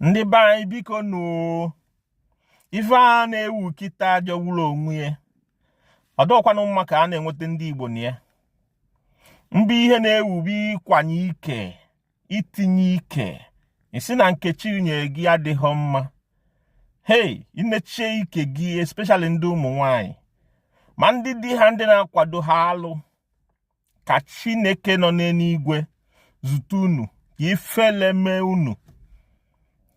ndị be anyị biko nụ ife a na-ewu kịtaa jọgburu onwe ya ọ dọkwanụ mma ka a na-enweta ndị Igbo na ya mba ihe na-ewu bụ ịkwanye ike itinye ike ị sị na nke chi nye gị adịghị mma hei inechie ike gị especially ndị ụmụ nwanyị ma ndị di ha ndị na-akwado ha alụ ka chineke nọ n'eluigwe zute unu ka ifele mee unu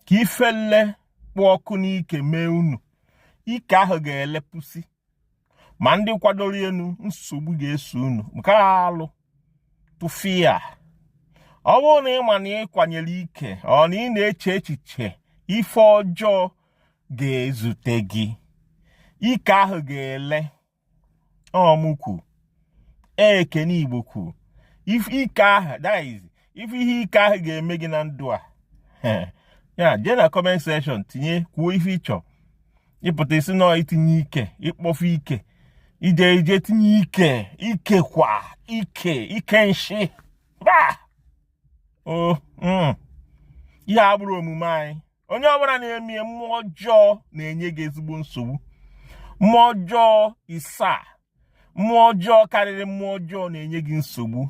ka ifele kpụ ọkụ n'ike mee unu ike ahụ ga-elepụsị ma ndị kwadoro unu nsogbu ga-eso unu nke alụ tụfia ọ bụrụ na ị ma na ị kwanyere ike or na ị na-eche echiche ife ọjọọ ga-ezute gị ike ahụ ga-ele ọmụ kwu ekene igbo kwu ike ahụ that is ife ihe ike ahụ ga-eme gị na ndụ a ya jee na comment section tinye kwuo ife ị chọ ịpụta isi na itinye ike ịkpọfu ike ije ije tinye ike ike kwa ike ike nshị mba o mm. ihe a abụrọ omume anyị onye ọbụla na-eme ya mmụọ ọjọọ na-enye gị ezigbo nsogbu mmụọ ọjọọ isaa mmụọ ọjọọ karịrị mmụọ ọjọọ na-enye gị nsogbu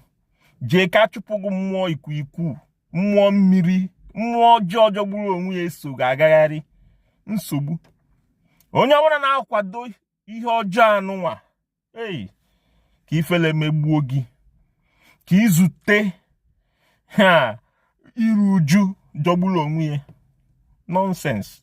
jee ka a chụpụ gị mmụọ ikwuikwu mmụọ mmiri mmụọ ọjọọ jọgburu onwe ya eso gị agagharị nsogbu onye ọbụla na-akwado ihe ọjọọ anụnwa ei ka ifele megbuo gị ka i zute iru uju jọgburu onwe ya nonsense